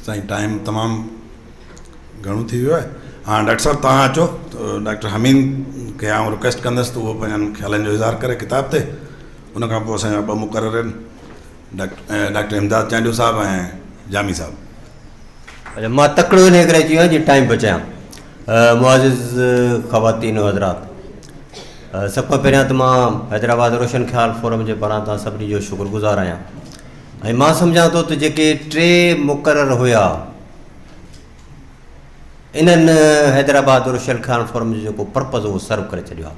سائين ٽائيم تمام گهڻو ٿي ويو آهي هاڻ ڊاڪٽر صاحب توهان اچو ڊاڪٽر حميد کي آئون رڪويسٽ ڪندس ته اهو پنهنجن خيالن جو اظهار ڪري ڪتاب تي ان کان پوء اسان جا ٻه مقرر آهن ڊاڪٽر ڊاڪٽر امداد چانڊيو صاحب ۽ جامي صاحب مان تڪڙو ان ڪري اچي ويو آهيان جي ٽائيم بچايان معزز خواتين و حضرات! سڀ کان پهريان ته مان حيدرآباد روشن خيال فورم جي پاران توهان سڀني جو شڪر گذار آهيان ۽ مان سمجهان ٿو ته جيڪي ٽي مقرر هيا انهن حيدرآباد روشن خيال فورم جو جيڪو پرپز هو سرو ڪري ڇڏيو آهي.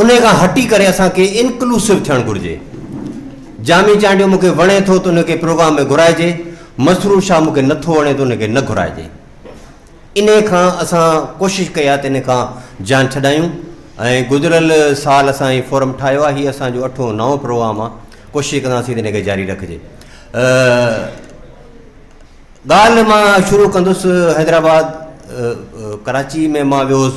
انهي کان هٽي ڪري اسان کي انڪلوسو ٿيڻ گهرجي. جامي چانڊيو مون کي وڻي ٿو ته ان کي پروگرام ۾ گهرائجي، مسرور شاهه مون کي نه ٿو وڻي ته ان کي نه گهرائجي. انهي کان اسان ڪوشش ڪئي آهي ته انهي کان جان ڇڏايون ۽ گذريل سال اسان هي فورم ٺاهيو آهي، هي اسان جو اٺون نائون پروگرام آهي، ڪوشش ڪنداسين ته ان کي جاري رکجي. ڳالهه مان شروع ڪندس حيدرآباد ڪراچي ۾ مان ويو هوس،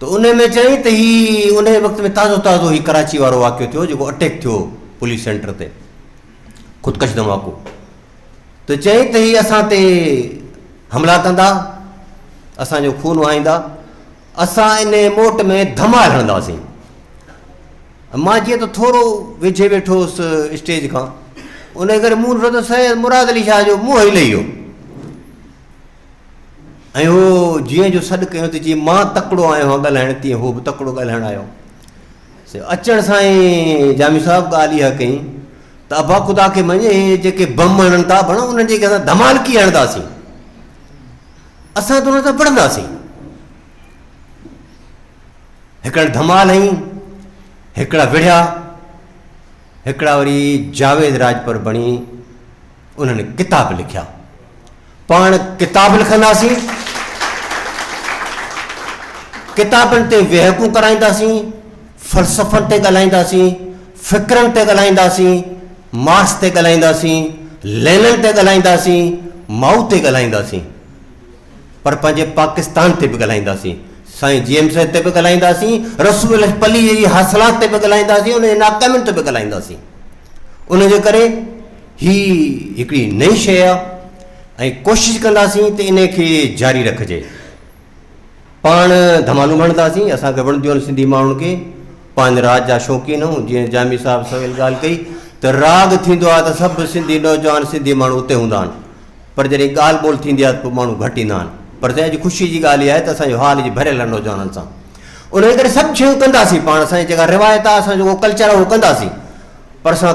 ته انهي ۾ چيائين ته هي انهي وقت ۾ تازو تازو هي ڪراچي وارو واقعو ٿيو جيڪو اٽيڪ ٿيو پوليس سينٽر تي خودڪش ڌماڪو ته چيائين ته هي اسان تي حملا ڪندا اسان جو خون وهائيندا اسان ان موٽ ۾ ڌمال هڻنداسين مان جيئن ته ٿورو ويجهي ويٺو هوس اسٽيج کان ان ڪري مون ڏٺو ته سيد مراد علي شاهه جو منهن هلي ويو ۽ هو جيئن جو سڏ ڪيو ته جيئن مان تڪڙو آيو هان ڳالهائڻ تيئن هو به تڪڙو ڳالهائڻ آيو اچڻ سان ئي جامي صاحب ڳالهه اها ڪئي ته ابا خدا کي مڃي جيڪي بم هڻن ٿا بڻ انهن جي اسان ڌمالڪي هڻنداسين اسان ته انهن سان پڙهنداسين هڪڙا ڌمال هئي هڪڙا وڙهيا هڪڙا وري جاويد راجپر بڻي انهن ڪتاب لکيا پاڻ ڪتاب لکنداسين، ڪتابن تي ويهڪون ڪرائينداسين، فلسفن تي ڳالهائينداسين، فڪرن تي ڳالهائينداسين، مارڪس تي ڳالهائينداسين، لينن تي ڳالهائينداسين، مائو تي ڳالهائينداسين پر پنهنجي پاڪستان تي به ڳالهائينداسين، سائين جي ايم سيد تي به ڳالهائينداسين، رسول الله پليجي جي حاصلات تي به ڳالهائينداسين، انهن جي ناڪامين تي به ڳالهائينداسين. ان جي ڪري هي هڪڙي نئين شيء آ ۽ ڪوشش ڪنداسين ته انهي کي جاري رکجي. پاڻ ڌمالون ڀڻداسين، اسان کي وڻنديون آهن سنڌي ماڻهن کي، پاڻ راڳ جا شوقين آهيون، جيئن جامي صاحب سويل ڳالهه ڪئي ته راڳ ٿيندو آهي ته سڀ سنڌي نوجوان سنڌي ماڻهو اتي هوندا آهن پر جڏهن ڳالهه ٻولهه ٿيندي آهي ته پوء ماڻهو گهٽ ايندا آهن پر سائين اڄ خوشي جي ڳالهه اها آهي ته اسان جو هال اڄ ڀريل آهي نوجوانن سان انهي ڪري سڀ شيون ڪنداسين پاڻ اسان جي جيڪا روايت آهي اسان جو ڪلچر آهي اهو ڪنداسين پر اسان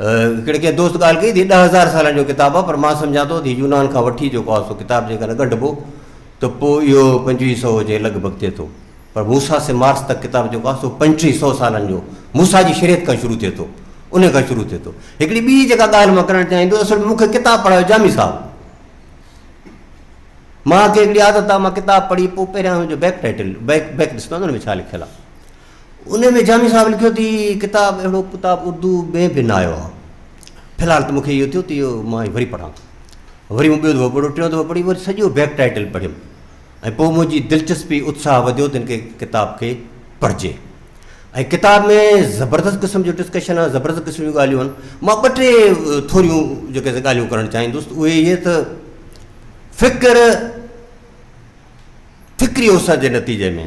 هڪڙي ڪنهن دوست ڳالهه ڪئي تي ڏهه هزار سالن جو ڪتاب آهي پر مان سمجهان ٿو تي يونان کان وٺي جيڪو آهي سو ڪتاب جيڪڏهن ڳنڍبو ته پوء اهو پنجويهه سؤ جي لڳ ڀڳ ٿئي ٿو پر موسا سي مارس تڪ ڪتاب جيڪو آهي سو پنجٽيهه سؤ سالن جو موسا جي شريعت کان شروع ٿئي ٿو ان کان شروع ٿئي ٿو هڪڙي ٻي جيڪا ڳالهه مان ڪرڻ چاهيندو اصل مون کي ڪتاب پڙهايو جامي صاحب مان کي هڪڙي عادت آ مان ڪتاب پڙهي پوء پهريان هن جو بيڪ ٽائيٽل بيڪ بيڪ ڏسندو آهيان ان ۾ ڇا لکيل آ ان ۾ جامي صاحب لکيو تي ڪتاب اهڙو ڪتاب اردو ۾ به نه آيو آهي في الحال ته مونکي اهو ٿيو ته اهو مان وري پڙهان وري مون ٻيو دفعو پڙهيو ٽيون دفعو پڙهي وري سڄو بيڪ ٽائيٽل پڙهيم ۽ پوء منهنجي دلچسپي اتساهه وڌيو ته هن کي ڪتاب کي پڙهجي ۽ ڪتاب ۾ زبردست قسم جو ڊسڪشن آهي زبردست قسم جون ڳالهيون آهن مان ٻ ٽي ٿوريون جيڪي ڳالهيون ڪرڻ چاهيندس اهي اهي ته فڪر فڪري اوسر جي نتيجي ۾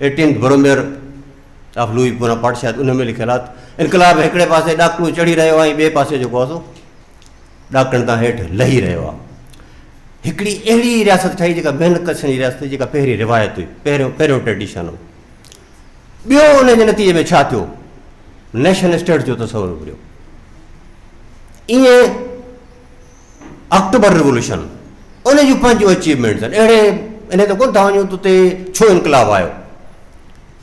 ايٽينٿ بروميئر آف لوئي بونا پارٽ شايد ان ۾ لکيل آهي انقلاب هڪڙي پاسي ڏاڪڻو چڙهي رهيو آهي ٻئي پاسي جيڪو آهي سو ڏاڪڻ تان هيٺ لهي رهيو آهي هڪڙي اهڙي رياست ٺهي جيڪا بين ڪشن جي رياست جيڪا پهرين روايت هئي پهريون پهريون ٽريڊيشن هو ٻيو ان جي نتيجي ۾ ڇا ٿيو نيشن اسٽيٽ جو تصور اڀريو ائين آڪٽوبر ريولوشن ان جون پنهنجون اچيومينٽس آهن اهڙي انهي ته ڪونه ٿا وڃون ته اتي ڇو انقلاب آيو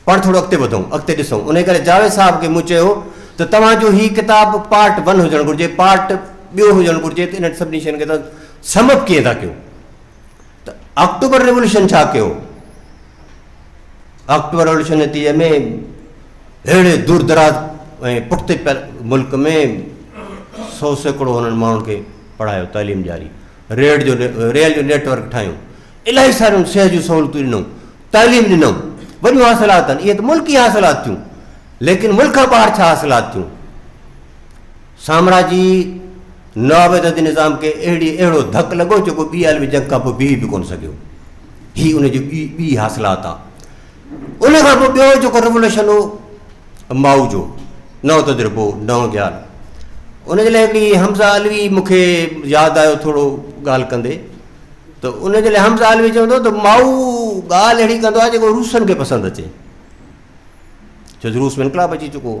پاڻ ٿورو اڳتي وڌون اڳتي ڏسون ان ڪري جاويد صاحب کي مون چيو ته توهان جو هي ڪتاب پارٽ ون هجڻ گهرجي پارٽ ٻيو هجڻ گهرجي ته انهن سڀني شين کي سمپ ڪيئن ٿا ڪيو ته آڪٽوبر ريولوشن ڇا ڪيو؟ آڪٽوبر ريولوشن نتيجي ۾ اهڙي دور دراز ۽ پٺتي ملڪ ۾ سو سيڪڙو هنن ماڻهن کي پڙهايو تعليم ڏياري ريل جو ريل جو نيٽ ورڪ ٺاهيو الاهي ساريون صحت جون سهولتون ڏنو تعليم ڏنو وڏيون حاصلات آهن اهي ته ملڪي حاصلات ٿيون ليڪن ملڪ کان ٻاهر ڇا حاصلات ٿيون سامراجي نوآبادياتي نظام کي اهڙي اهڙو ڌڪ لڳو جيڪو ٻي عالمي جنگ کان پوء بيهي به ڪونه سگهيو. هي ان جي ٻي ٻي حاصلات آ. ان کان پوء ٻيو جيڪو ريولوشن هو مائو جو نئون تجربو نئون خيال ان جي لاء هڪڙي حمزه علوي مون کي ياد آيو ٿورو ڳالهه ڪندي ته ان جي لاء حمزه علوي چوندو ته مائو ڳالهه اهڙي ڪندو آ جيڪو روسن کي پسند اچي ڇو روس ۾ انقلاب اچي چڪو هو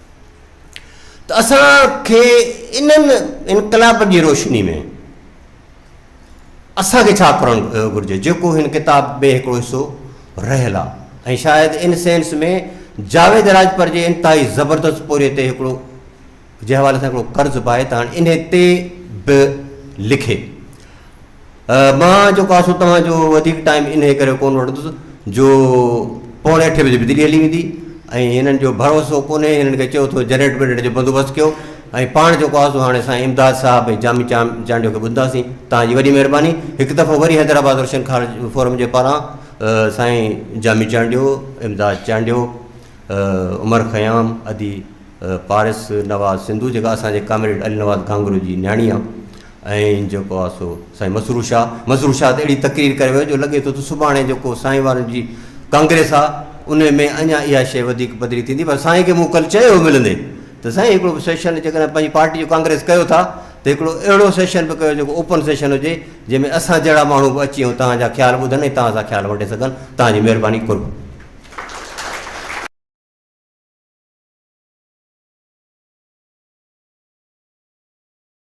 ته اسان کي انهن انقلابن جي روشني ۾ اسان کي ڇا ڪرڻ گهرجي جيڪو هن ڪتاب ۾ هڪڙو حصو رهيل آهي ۽ شايد ان سينس ۾ جاويد راجپر جي انتهائي زبردست پوري تي هڪڙو جنهن حوالي سان هڪڙو قرض به آهي ته هاڻي انهي تي به لکي مان جيڪو آسو توهان جو وڌيڪ ٽائيم انهي ڪري ڪونه وٺندس جو پوڻي اٺي بجي بجلي هلي ويندي ۽ هنن جو ڀروسو ڪونهي هنن کي چيو ٿو جنريٽر ونريٽر جو بندوبست ڪيو ۽ پاڻ جيڪو آسو هاڻي اسان امداد صاحب ۽ جامي چانڊيو کي ٻڌنداسين توهان جي وڏي مهرباني هڪ دفعو وري حيدرآباد روشن خار فورم جي پاران سائين جامي چانڊيو امداد چانڊيو عمر خيام ادي پارس نواز سنڌو جيڪا اسان جي ڪامريڊ علي نواز گھانگرو جي نياڻي آهي ۽ جيڪو آ سو سائين مسرور شاهه مسرور شاهه ته اهڙي تقرير ڪري ويو جو لڳي ٿو ته سڀاڻي جيڪو سائين وارن جي ڪانگريس آ ان ۾ اڃا اها شيء وڌيڪ پڌري ٿيندي پر سائين کي مون ڪل چيو هو ملندي ته سائين هڪڙو به سيشن جيڪڏهن پنهنجي پارٽي جو ڪانگريس ڪيو ٿا ته هڪڙو اهڙو سيشن به ڪيو جيڪو اوپن سيشن هجي جنهن ۾ اسان جهڙا ماڻهو به اچي ۽ توهان جا خيال ٻڌن ۽ توهان سان خيال ونڊي سگهن توهان جي مهرباني قرب